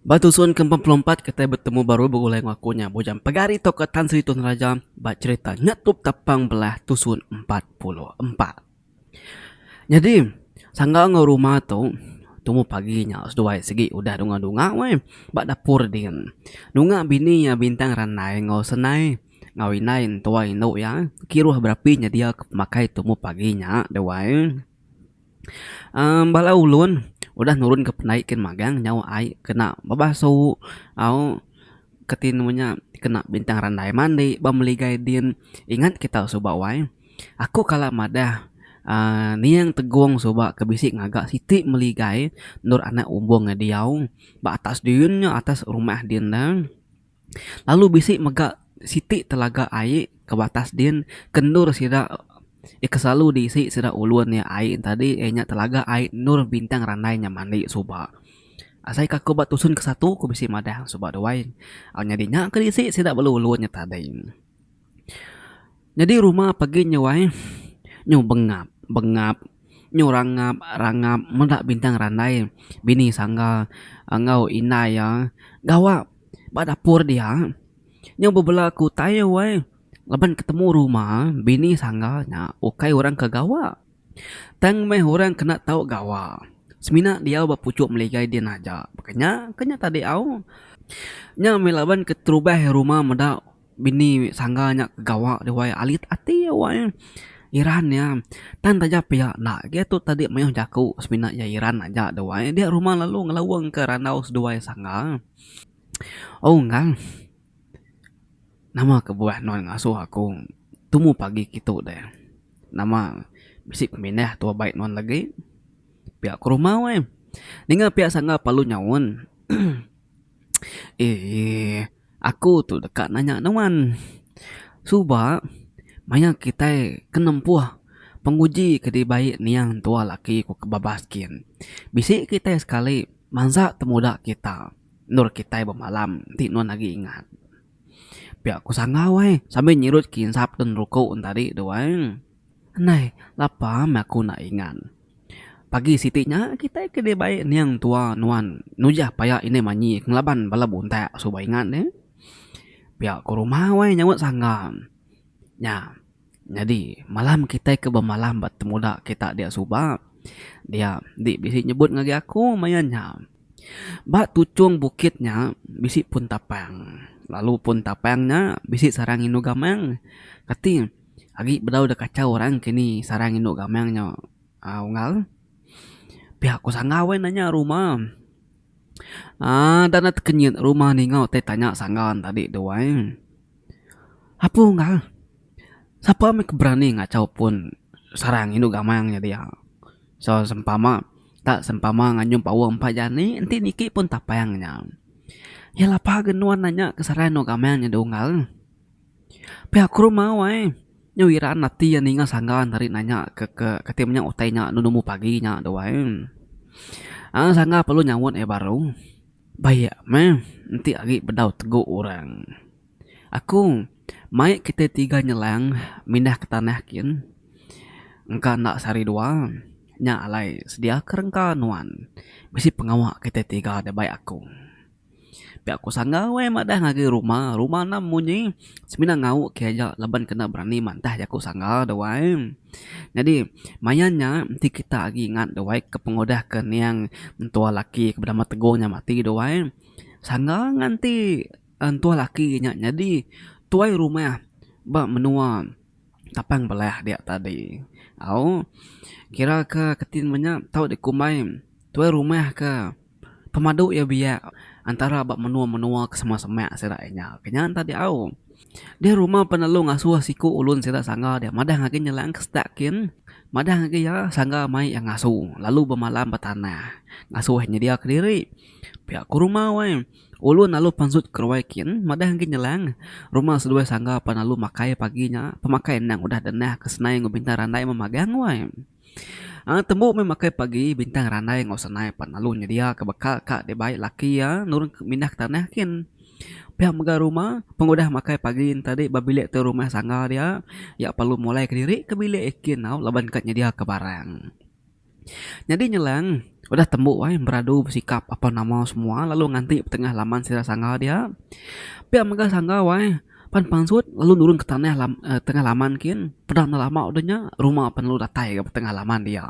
Ba tusun ke empat puluh empat kitai betemu baru begulai enggau aku nya Bujang Pegari tauka Tan Sri Tun Raja ba cherita Nyetup Tapang Belah Tusun empat puluh empat. Nyadi sangga enggau rumah tu tumu pagi nya seduai sigi udah dunga-dunga weh ba dapur din. Dunga bini iya Bintang Randai enggau Senai enggau indai entua indu iya kiruh berapi nyediaka pemakai tumu pagi nya duai. Bala ulun udah nurunka pandai kin magang nyau ai kena bebasu au ke ti nemu nya kena bintang randai mandi ba meli gaye din ingat kita suba wai aku kala madah uhh ning tegong suba ke bisi ngaga siti meli gaye endor anak umbong diau ba atas din nya atas rumah din nya. Lalu bisi mega siti telaga ai ke batas din ke endur sida iya ke selalu diisi sida ulun iya ai nya tadi iya nya telaga ai endur Bintang Randai nya mani suba. Asai ka aku ba tusun ke satu aku bisi madah suba duai nyadi nya ke diisi sida bala ulun nya tadi. Nyadi rumah pagi nya wai nyu bengap bengap nyu rangap rangap meda bintang randai bini sangga enggau indai iya gawa ba dapur dia nyu bebela aku utai iya wai laban ketemu rumah bini sangga nya ukai orang ke gawa tang meh orang kena tau gawa semina diau ba puchok meligai din aja. Pekanya ke nya tadi au nya meh laban keterubah rumah meda. Bini sangga nya ke gawa dia wai alit ati iya wai Iran iya. Tan taja pia enda agi atu tadi mayuh jaku semina iya Iran aja dia wai dia rumah lalu ngelawong ke randau seduai sangga. Au ngan nama kebuah nuan ngasuh aku tumu pagi kitu deh. Nama bisi pemindah tu abai nuan lagi pia ke rumah wai. Ninga pia sangga palu nyaun. Eeh. Aku tu deka nanya nuan. Suba maya kitai ke nempuh penguji ke dibai nia entua laki ku ke babas kin. Bisi kitai sekali mansa temuda kita endur kitai bemalam ti nuan agi ingat. Pia ku sanggau ai sambil nyirut kinsap den ruku tadi tu ai. Andai lapa meh aku enda ingat. Pagi siti nya kitai ke dibai niang tua nuan nujah paya indai manyi ke ngelaban bala buntak suba ingat deh. Pia ke rumah weh nyaup sangga. Nya nyadi malam kitai ke bemalam ba temuda kita dia suba dia enti bisi nyebut ngagai aku maya nya. Ba tuchung bukit nya bisi pun tapang lalu pun tapang nya bisi sarang indu gamang kati. Agi bedau da kachau orang ke ni sarang indu gamang nya unggal. Pia ku sangga weh nanya rumah aaa enda na tekenyit rumah ni enggau tai tanya sangga ne tadi tu wai. Apu unggal sapa meh ke berani ngachau pun sarang indu gamang nya dia so sempama enta sempama nganyung paoh empa jani enti niki pun tapang nya. Iya lapa ke nuan nanya ke sarang indu gamang nya unggal. Pia ku rumah wai. Nya wira ati iya ninga sanggan ari nanya ke ke kati menya utai nya anu numu pagi nya tu wai. Aaa sangga perlu nyaunt iya baru. Ba iya meh enti agi bedau tegu orang. Aku mai kitai tiga nyelang mindah ke tanah kin engka enda sehari dua nya alai sedia ke rengka nuan. Bisi pengawa kitai tiga da bai aku. Pia ku sangga weh madah ngagai ruma, ruma enam munyi semina ngau ke aja laban kena berani madah jaku sangga deh wai. Nyadi maya nya enti kita agi ingat deh wai ke pengudah ke niang mentua laki ke benama Teguh nya mati deh wai. Sangga nganti entua laki nya nyadi tuai rumah ba menua Tapang Belah dia tadi. Au kira ke kitai menya tau dikumbai tuai rumah ke. Pemadu iya biak antara ba menua-menua ke sema semak sida iya nya ke nya enta diau. Dia rumah penelu ngasuh siku ulun sida sangga dia madah agi nyelai ke sedak kin. Madah agi iya sangga mai iya ngasu lalu bemalam ba tanah ngasuh iya nyedia kediri. Pia ku rumah wai ulun lalu pansut ke ruai kin madah agi nyelang rumah seduai sangga penelu makai pagi nya pemakai endang udah denah ke senai enggau bintang randai memagang wai. Tembu meh makai pagi bintang randai enggau senai pan lalu nyedia ka bekal ka dek bai laki iya nurun mindah ke tanah kin. Pia mega rumah pengudah makai pagi nya tadi ba bilik tu rumah sangga dia iya perlu mulai kediri ke bilik iya kin tau laban ka nyedia ka barang. Nyadi nyelang udah tembu ai beradu besikap apan nama semua lalu nganti tengah laman sida sangga dia. Pia mega sangga wai. Pan pansut lalu nurun ke tanah lam tengah laman kin peda enda lama udah nya rumah pan lalu datai ga tengah laman dia.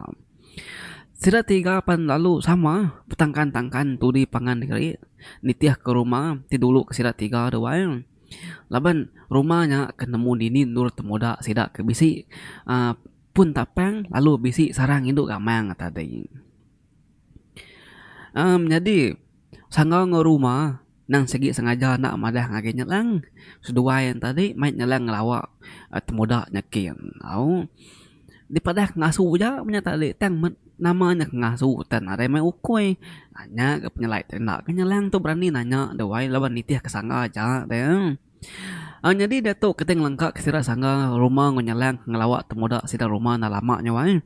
Sida tiga pan lalu sama betangkan tangkan tudi pangan diri nitih ke rumah ti dulu ke sida tiga tu ai laban rumah nya ke nemu dini endur temuda sida ke bisi aaa pun tapang lalu bisi sarang indu gamang tadi. Amm nyadi. Sangau enggau Ruma nang sigi sengaja enda madah ngagai Nyelang. Seduai nya tadi mai Nyelang ngelawa temuda nya kin. Au dipadah ngasu aja nya tadi tang men nama nya ke ngasu tan nadai mai ukoi. Nya ke penyelai tu enda ke Nyelang tu berani nanya duai laban nitihka sangga aja deh. Aaa nyadi diatu kitai ngelengka ke sida sangga rumah enggau nyelang ngelawa temuda sida rumah enda lama nya wai.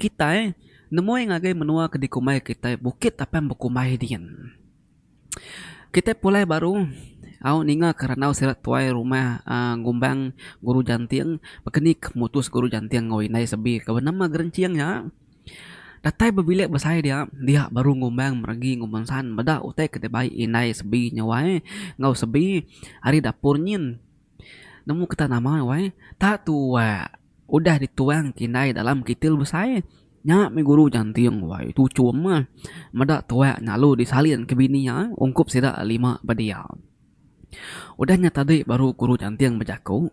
Kitai nemui ngagai menua ke dikumbai kitai Bukit Apan Bekumbai diin. Kitai pulai baru au ninga ke randau sida tuai rumah aaa ngumbang Guru Janting baka ni ke mutus Guru Janting enggau indai Sebi ke benama Gerinching nya. Datai bebilik besai dia, dia baru ngumbang meregi ngumbang san meda utai ke dibai indai Sebi nya wai enggau Sebi ari dapur nyin. Nemu kitai nama wai, tak tuak udah dituang ke indai dalam kitil besai. Nya mih guru janting wai tu chum meda tuak nya lalu disalin ke bini iya ungkup sida lima ba dia. Udah nya tadi baru guru nyanting bejaku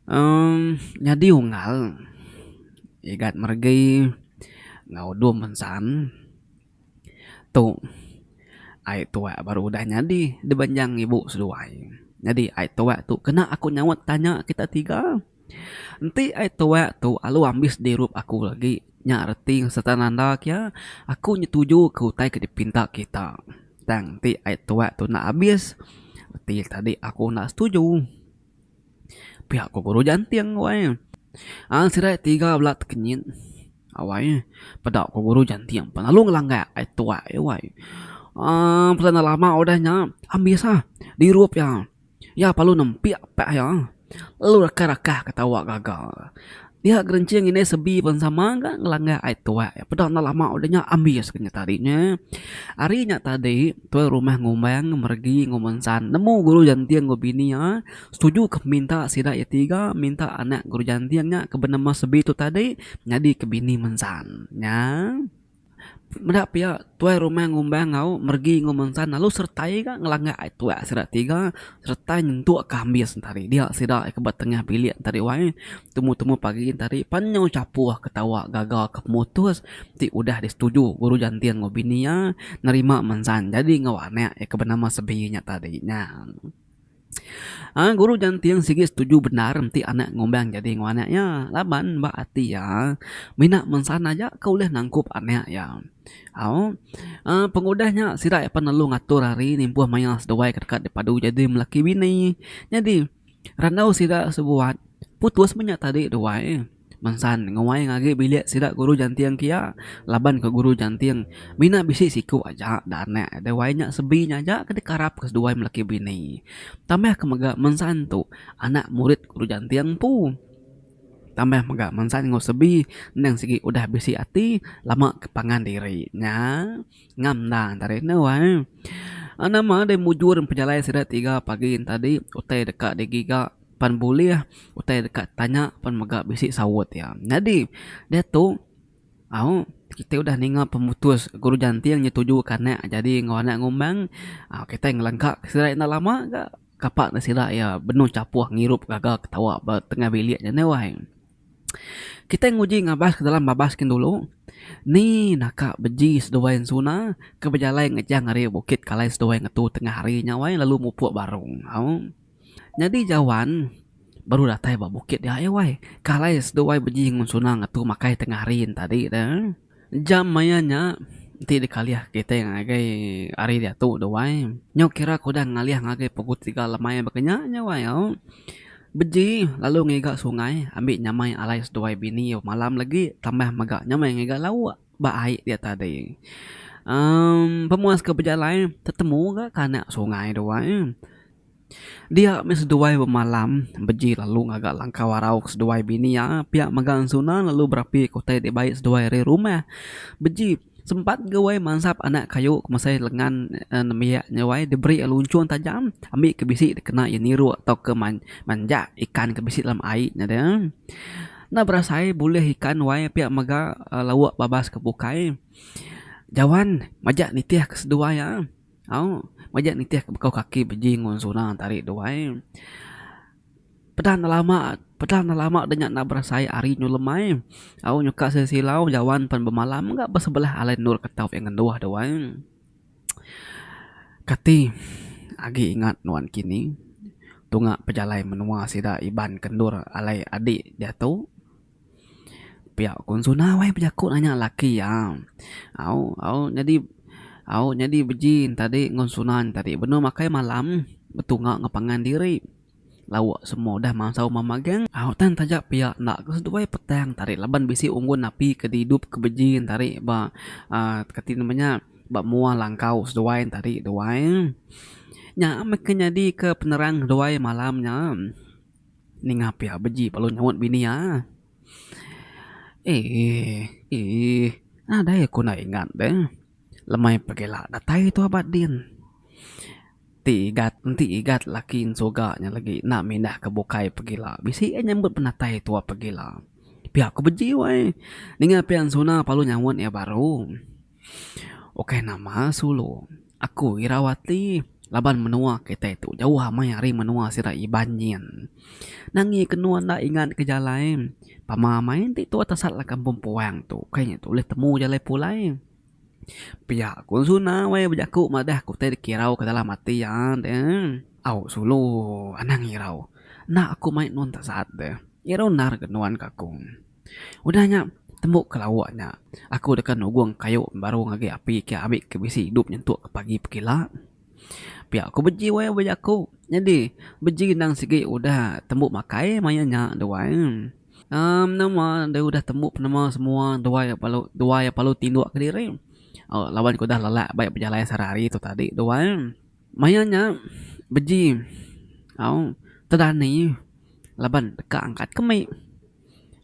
uhh nyadi unggal igat meregi enggau dum ensan tu ai tuak baru udah nyadi dibenjang ibu seduai. Nyadi ai tuak tu kena aku nyaut tanya kita tiga. Enti ai tuak tu alu ambis dirup aku agi nya reti serta nanda kia aku nyetuju ke utai ke dipinta kita. Tang enti ai tuak tu enda abis reti tadi aku enda setuju. Pia ku guru Janting wai. Ai sida tiga bela tekenyit wai peda ku guru Janting pan lalu ngelanggar ai tuak ai wai. Aaa peda enda lama udah nya ambis ah dirup iya. Iya palu nempik pak iya lalu rakah-rakah ka tawa gaga. Dia gerincing indai sebi pen sama ka ngelanggar ai tuak iya. Peda enda lama udah nya ambis ka nya tadi nya. Ari nya tadi tuai rumah ngumbang meregi ngumbang ensan nemu guru janting enggau bini iya setuju ka minta sida iya tiga minta anak guru janting nya ke benama sebi tu tadi nyadi ke bini mensan nya. Meda pia, tuai rumah ngumbang enggau meregi enggau mensan lalu sertai ga ngelanga ai tuak sida tiga sereta nyentuk ka ambis enti hari dia sida ke ba tengah bilik enti hari wai temu-temu pagi enti hari pan nyau chapuh ketawa gaga ke pemutus ti udah disetuju guru jantin enggau bini iya nerima mensan jadi enggau anak iya ke benama Sebi nya tadi nya. Guru nyanting sigi setuju bendar enti anak ngumbang nyadi enggau anak iya laban ba ati iya mina mensana aja ke ulih nangkup anak iya. Pengudah nya sida iya pan lalu ngatur ari nimpuh mayar seduai ke deka dipadu nyadi lelaki bini. Nyadi randau sida sebuat putus menya tadi duai. Mensan, nguai ngagi bilik sida guru janting kia laban ke guru janting mina bisi siku aja da anak deh wai nya sebi nya aja ke dikarap ke seduai melaki bini. Tambah ke mega mensan tu anak murid guru janting empu. Tambah mega mensan enggau sebi endang sigi udah bisi ati lama ke pangan diri nya ngam enda antara enda wai. Nama deh mujur pejalai sida tiga pagi enti tadi utai deka digiga. pan bulih utai deka tanya pan mega bisi saut iya. Nyadi diatu au kitai udah ninga pemutus guru janting nyetujuka anak jadi enggau anak ngumbang aaa kitai ngelengka ke sida enda lama ga kapa ne sida iya benung chapoh ngirup gaga ketawa ba tengah bilik nya neh wai. Kitai nguji ngabas ke dalam babas kin dulu ni naka beji seduai ensuna ke bejalai ngejang ari bukit kalai seduai ngetu tengah hari nya wai lalu mupuk barung au. Nyadi Jawan baru datai ba bukit di ai wai. Ke alai seduai beji ngun Suna ngetu makai tengah hari enti tadi tu. Jam maya nya enti dikalih kitai ngagai hari diatu tu wai. Nyau kira ke udah ngalih ngagai pukul tiga lemai baka nya nya wai au. Beji lalu ngiga sungai ambi nyamai alai seduai bini bemalam legi tambah mega nya meh ngiga lauk ba ai dia tadi. Amm pemuas ke bejalai tetemu ga ke anak sungai tu wai. Dia meh seduai bemalam beji lalu ngaga langkau arau ke seduai bini iya pia mega ensuna lalu berapi ke utai dibai seduai ari rumah. Beji sempat gawai mansap anak kayu ke mesai lengan uhh nembiak nyawai diberi iya lunchun tajam ambi ke bisi dikena iya niruk tauka manjak ikan ke bisi dalam ai nya de. Enda berasai bulih ikan wai pia mega lauk babas ke bukai. Jawan majak nitih ke seduai iya. Au, majak nitih ke bekau kaki beji enggau zona tari dua ai. Peda enda lama, peda enda lama deh nya enda berasai hari nyulem ai. Au nyuka sida silau jawan pen bemalam mega ba sebelah alai endur ke tau pia ngenduh deh wai. Kati agi ingat nuan kini tunga pejalai menua sida Iban ke endur alai adi diatu Pia ku Suna wai bejaku nanya laki iya. Au au nyadi au nyadi beji enta dik ngen Suna enta dik benung makai malam betunga ngen pangan diri. Lauk semua udah masau meh magang. Au tan taja pia enda ke seduai petang enta dik laban bisi unggun api ke didup ke beji enta dik ba aaa ke ti nama nya ba mua langkau seduai enta dik duai. Nya meh ke nyadi ke penerang duai malam nya. Ninga pia beji lalu nyaut bini iya. Eeh. Eeh. Nadai aku enda ingat deh. Lemai pegila datai tu aba din. Ti igat enti igat laki ensuga nya lagi enda mindah ke bukai pegila. Bisi iya nyambut penatai tu pegila. Pia ku beji wai. Ninga pia ensuna lalu nyaut iya baru. Ukai nama sulu. Aku Irawati laban menua kitai tu jauh amai ari menua sida Iban nyin. Nangi ke endur enda ingat ke jalai. Pama amai enti tu atas sat lakat Kampung Puang tu ukai inya tu ulih temu jalai pulai. Pia ku Zuna wai bejaku madah ku tai dikirau ke dalam ati iya deh. Au sulu anang irau. Enda aku mai nuan tasat deh. Irau endar ke nuan ka ku. Udah nya, tembu ke lawa nya, aku deka nugung kayu baru ngagai api ke ambi ke bisi idup nyentuk ke pagi pekila. Pia ku beji wai ba jaku. Nyadi, beji endang sigi udah tembu makai maya nya tu wai. Aaa menama dau udah tembu penema semua duai bala duai bala tinduk kediri aaa laban ke udah lelak bai bejalai sehari hari tu tadi tu wai. Maya nya, beji au tedani laban deka angkat ke mik.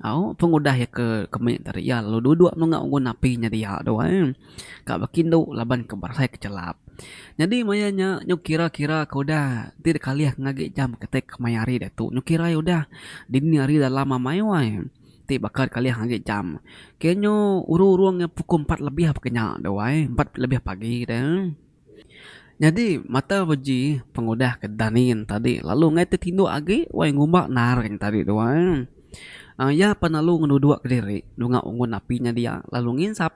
Au, pengudah iya ke mih tadi iya lalu duduk menunga unggun api nyadi iya tu ai. Ka baka indu laban ka berasai ke chelap. Nyadi maya nya nyau kira kira ke udah ti deh kalih enggau agi jam ke tai kemai hari diatu. Nyau kira iya udah dini hari dalam amai u ai. Ti baka deh kalih enggau agi jam. Ke nyu urung urung pukul empat lebih pekenya tu ai. Empat lebih pagi tu. Nyadi mata beji pengudah ke Danin tadi lalu ngai tetinduk agi wai ngumba naring tadi tu ai. uhh Iya pan lalu ngenuduk diri nunga ungun api nya dia lalu nginsap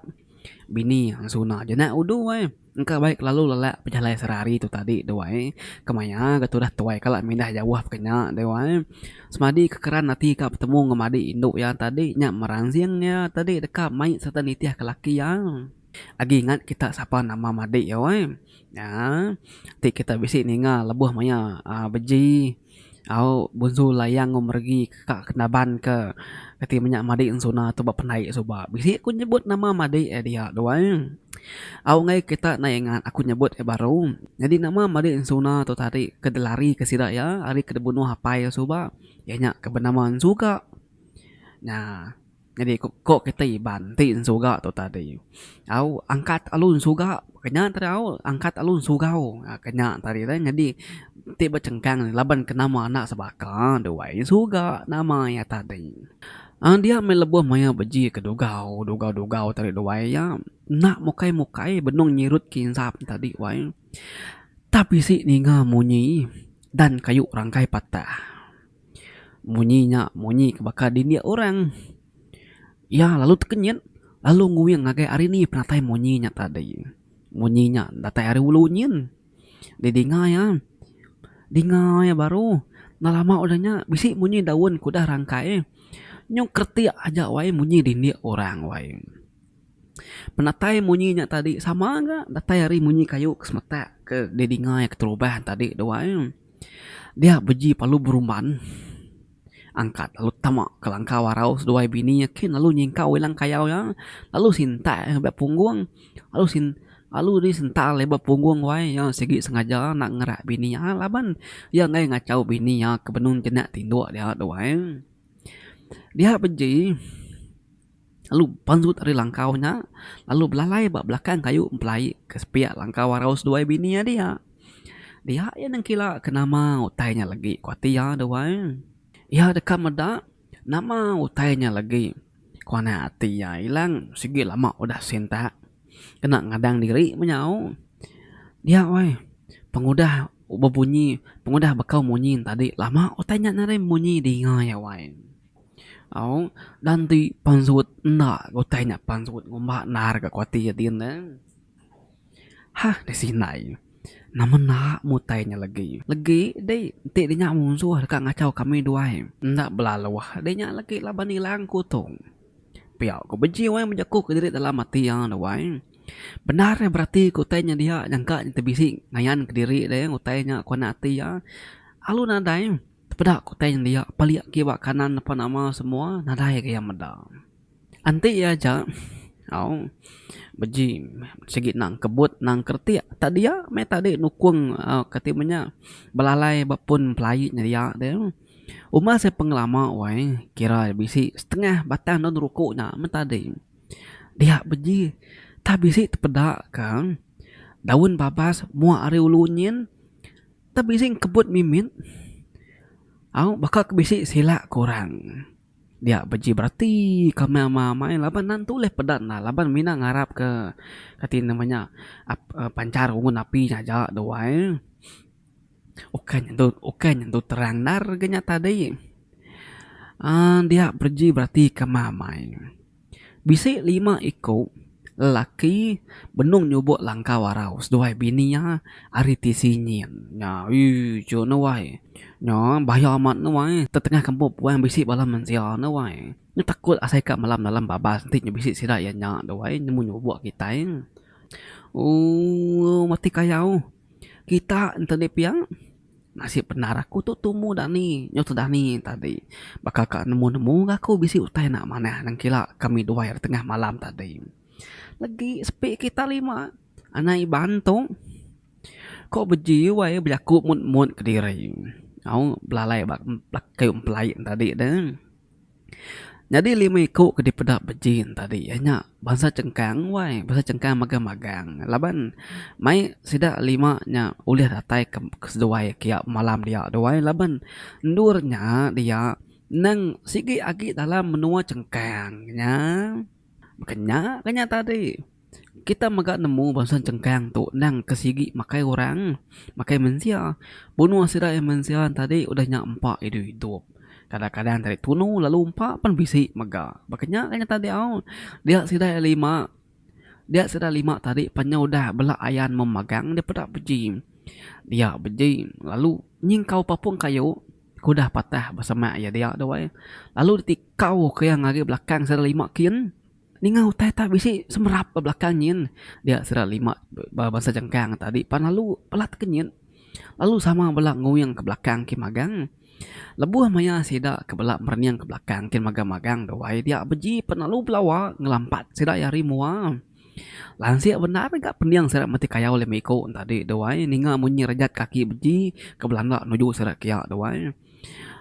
bini suna je nya udu ai. Engka baik lalu lelak pejalai sehari-hari tu tadi tu ai. Kemaya ga tudah tuai kala mindah jauh ke nya tu ai. Semadi kekeran ati ka betemu ngemadi indu iya tadi nya meransing iya tadi deka mai sereta nitihka laki iya. Agi ingat kita sapa nama madik iya weh. Nya ti kita bisi ninga lebuh maya aaa beji au Bunsu Layang enggau Meregi ka Kenaban ke kati menya madik Ensuna tu ba Pendai suba. Bisi ku nyebut nama madik iya dia tu weh. Au meh kita neh ingat aku nyebut iya baru. Nyadi nama madik Ensuna tu tadi ke dilari ke sida iya ari ke dibunuh apai iya suba iya nya ke benama Ensuga. Nya. Nyadi ku ko kita Iban ti ensuga tu tadi au angkat alu ensuga kenya tadi au angkat alu ensugau aaa kenya tadi tadi nyadi ti bechengkang ne laban ke nama anak sebaka duai ensuga nama iya tadi. Aaa dia meh lebuh mayuh beji ke dugau dugau dugau tadi duai iya enda mukai mukai benung nyirut ke insap tadi wai tap isi ninga munyi dan kayu rangkai patah. Munyi nya munyi ke baka dindik orang. Iya lalu tekenyit lalu nguing ngagai ari ni penatai munyi nya tadi. Munyi nya datai ari ulu nyin. Deh dinga iya, dinga iya baru. Enda lama udah nya bisi munyi daun ke udah rangkai. Nyung kretik aja wai munyi dindik orang wai. Penatai munyi nya tadi sama ga datai ari munyi kayu ke semetak ke deh dinga iya keterubah tadi tu wai. Dia beji palu berumban angkat lalu tama ke langkau arau seduai bini iya kin lalu nyingkau ilang kayau iya lalu sintai iya ba punggung lalu sin lalu di sental iya ba punggung wai iya sigi sengaja nak ngerat bini iya laban iya enggai ngachau bini iya ke benung jenak tinduk dia tu ai. Dia beji. lalu pandut ari langkau nya lalu belalai ba belakang kayu empelai ke sepiak langkau arau seduai bini iya dia. Dia iya nengkila ke nama utai nya legi ku ati iya deh wai. Iya deka meda nama utai nya legi ku anak ati iya ilang sigi lama udah sintak kena ngadang diri menyau dia wai pengudah bebunyi pengudah bekau munyi tadi lama utai nya narai munyi dinga iya wai. Aung dan ti pansut enda ke utai nya pansut ngumba endar ka kuati adin ne. Ha deh sindai nama enda meh utai nya legi. Legi dei enti de nya munsuh deka ngachau kami duai enda belaluh de nya legi laban ilang ku tu. Pia ku beji wang bejaku kediri dalam ati iya duai. Bendar iya berati ke utai nya dia nyangka nya tebisi ngayan kediri de utai nya kuan ati iya alu nadai. Tepeda ku tang dia, palik agi ba kanan depa nama semua nadai ga iya meda. Enti iya aja au beji sigi nang kebut nang keretik tak dia meh tadi nukung au kati ibuh nya belalai ba pun pelaie nya dia deh. Uma seh pengelama wai kira bisi setengah batang daun ruku nya meh tadi dia beji tak bisi tepeda ka daun babas mua ari ulu nyin. Tang bisi engkebut mimit au baka ke bisi sila ke orang dia beji berati ke meh ama amai laban nan tu ulih peda enda laban mina ngarap ke kati nama nya uhh pancar ungun api nya aja da wai ukai nyendu ukai nyendu terang endar ke nya tadi uhh dia beji berati ke ama amai. Bisi lima iku lelaki benung nyubok langkau arau seduai bini iya ari ti Sinying. Nya uii chok ne wai. Nya bahaya amat ne wai. Tetengah kampung puan bisi bala mensia ne wai. Nya takut asai ka malam dalam babas enti nya bisi sida iya nya tu wai nemu nyubok kitai. Ooh mati kayau. Kita enti nya pia. Nasib bendar aku tu tumu dani nyut dani tadi baka ka nemu nemu enggau aku bisi utai enda manah nengkila kami duai ri tengah malam tadi. Legi sepi kita lima anak iban tu ko beji wai bejaku mut mut kediri au belalai ba keyuh empelai tadi deh. Nyadi lima iku ke dipeda Bejin tadi iya nya bansa Chengkang wai bansa Chengkang magang magang laban mai sida lima nya ulih datai ke seduai kia malam dia tu ai laban endur nya dia nang sigi agi dalam menua Chengkang nya baka nya ka nya tadi. Kita mega nemu bansa chengkang tu endang ke sigi makai orang, makai mensia. Bunuh sida iya mensia tadi udah nya empa idup idup. Kadang kadang tadi tunu lalu empa pun bisi mega. Baka nya ka nyata diau. Dia sida iya lima, dia sida iya lima tadi pan nya udah bela ayan meh magang deh peda beji. Dia beji lalu nyingkau papung kayu ke udah patah besemak iya dia dawai. Lalu diti kau ke iya ngagai belakang sida lima kin. Ninga utai ta bisi semerap ba belakang nyin dia sida lima ba bansa jangkang tadi pan lalu pelat ke nyit lalu sama bala nguing ke belakang ke magang lebuh maya sida ke bala merening ke belakang kin magang magang dawai dia beji pan lalu belawa ngelampat sida iya ari mua. Lansik bendar ga pening sida meti kayau lema iko tadi dawai ninga munyi rejat kaki beji ke belanda nuju sida kiya dawai.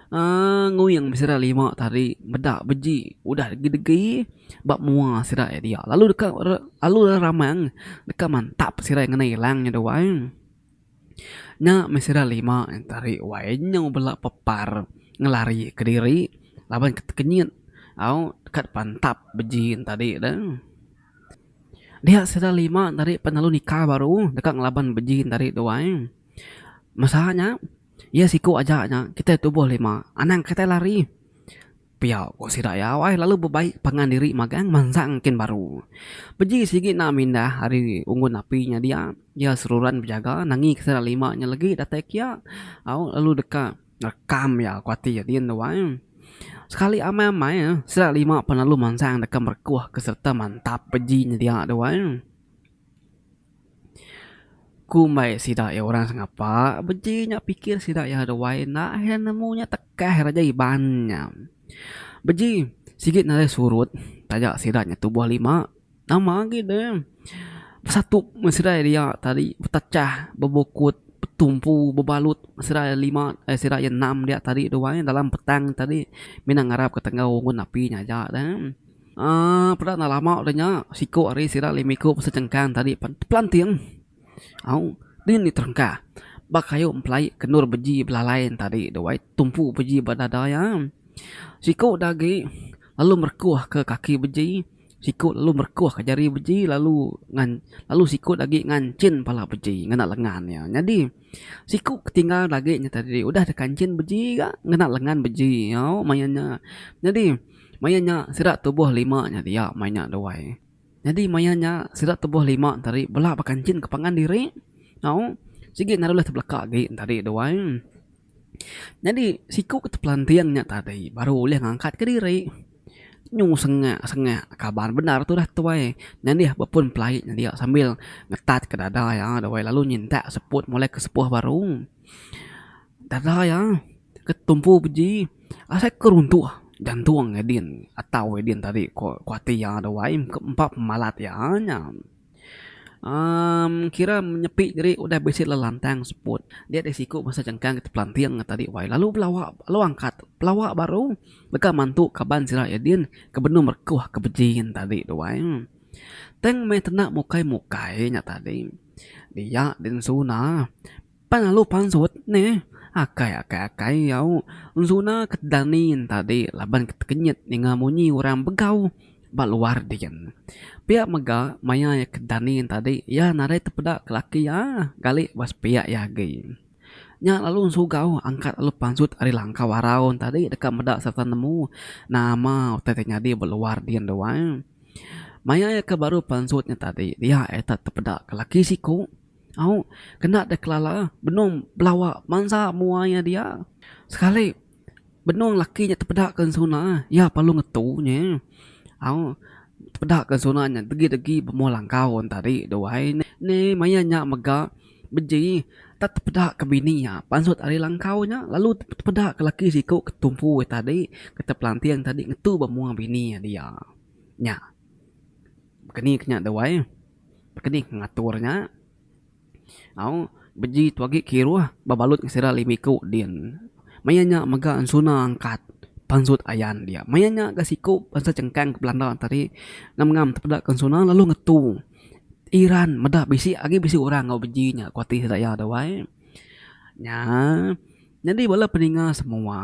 Nguing besera lima tari meda beji udah degedegi ba mua sida iya diak lalu deka lalu ra ramang deka mantap sida iya ngena ilang nya dua ai. Nya meh sida lima tari wai nyau bela pepar ngelari kediri laban ke tekenyit au kad pantap beji nya tadi de. Dia sida lima tadi pelalu nikah baru deka ngelaban beji tadi dua ai. Masa nya. Iya siku aja nya kitai tubuh lima, anang kitai lari. Pia ku sida iya awai lalu bebai pangan diri magang mansang kin baru. Beji sigi enda mindah ari unggun api nya dia, iya seruran bejaga nangika sida lima nya legi datai kia au lalu deka ngerekam iya ku ati adin tu ai. Sekali amai-amai sida lima pan lalu mansang deka merekuh sereta mantap beji nya dia tu ai. Ku mbai sida iya orang sengapa, beji nya pikir sida iya duai enda he nemu nya tekah ra ja iban nya. Beji sigi nadai surut taja sida nya tubuh lima nama agi ne besatup meh sida iya dia tadi betechah bebukut betumpu bebalut meh sida iya lima eh sida iya enam dia tadi duai dalam petang tadi mina ngarapka tenggau ngun api nya aja ne. Aaa peda enda lama udah nya siku hari sida lemiku pesen chengkang tadi pen pelanting au din diterengka ba kayu empelai ke endur beji belalai ne tadi tu ai tumpu beji ba dada iya. Siku da agi lalu merekuh ke kaki beji siku lalu merekuh ke jari beji lalu ngan lalu siku da agi nganchin pala beji ngena lengan iya. Nyadi. Siku ke tinggal agi nya tadi udah deka enchin beji ga ngena lengan beji nyau main nya. Nyadi main nya sida tubuh lima nya dia main nya duai. Nyadi main nya sida tubuh lima nya tadi bela baka enchin ke pangan diri nyau sigi enda ulih tebelaka agi nya tadi duai. Nyadi siku ke tepelanting nya tadi baru ulih ngangkat ke diri. Nyu sengak sengak kaban bendar tu dah tuai nyadih ba pun pelaik nya dia sambil ngetat ka dada iya dawai lalu nyintak seput mulai ke sepuh baru. Dada iya ke tumpu beji asai ke runtuh jantung Edin atau Edin tadi ku ati iya dawai empa pemalat iya nya. Um kira nyepi diri udah bisi lantang seput. Dia deh siku basa chengkang kita pelanting nya tadi wai lalu belawa lalu angkat belawa baru deka mantu kaban sida iya din ke benung rekuh ke beji nya tadi tu wai. Tang meh tena mukai mukai nya tadi dia din suna. Pan alu pansut neh akai akai akai au enzuna ke dani tadi laban ke tekenyit ninga munyi orang begau ba luar din. Pia mega maya iya ke dani tadi iya nadai tepeda ke laki iya gali ba sepiak iya agi. Nya lalu ensugau angkat alu pansut ari langkau arau tadi deka meda sereta nemu nama utai ti nyadi ba luar din dua. Maya iya ke baru pansut nya tadi dia iya tetepeda ke laki siku. Au, kena deh kelala benung belawa bansa mua iya dia. Sekali benung laki nya tepeda ke ensuna iya perlu ngetu nye. Au, tepeda ke ensuna nya degi-degi bemua langkau en tadi duai ne. Ne maya nya mega beji tak tepeda ke bini iya pansut ari langkau nya lalu tepeda ke laki siku ke tumpu iya tadi ke tepelanting tadi ngetu bemua bini iya dia. Nya. Ke ni ke nya duai. Keni ke ngatur nya? Au, beji tu agi kiruh bebalut ke sida limi ku din. Maya nya mega ensuna angkat pansut ayan dia. Maya nya ga siku bansa chengkang ke Belanda tadi ngam ngam tepeda ke ensuna lalu ngetu Iran meda bisi agi bisi orang enggau beji nya ku ati sida iya dau ai. Nya nyadi bala peninga semua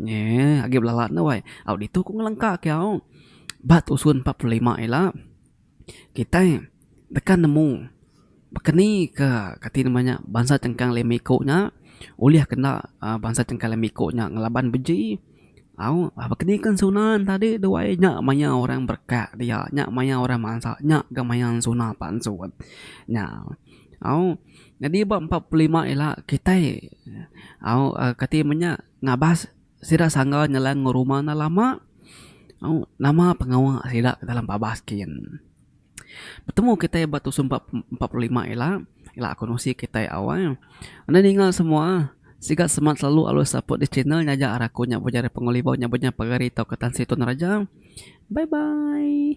eee agi belala ne wai. Au ditu ku ngelengka ke au ba tusun empat puluh lima ila. Kitai deka nemu baka ni ke kati nama nya bansa chengkang lima iku nya ulih kena uhh bansa chengkang lima iku nya ngelaban beji au baka ni kan sunan tadi duai nya maya orang berekak dia nya maya orang mansa nya ga maya suna pansut nya au nyadi ba empat puluh lima ila kitai au kati menya ngabas. Sida sangga nyeleng enggau rumah enda lama. Nama pengawa sida ke dalam babas kin. Betemu kitai ba Tusun empat empat puluh lima ila. Ila aku nusi kitai awai. Enda ninga semua. Sigat semat selalu alus support this channel nyaja arah aku nya bujari Pengelibau nya benya pagari tauka Tan Sri Tun Raja. Bye bye.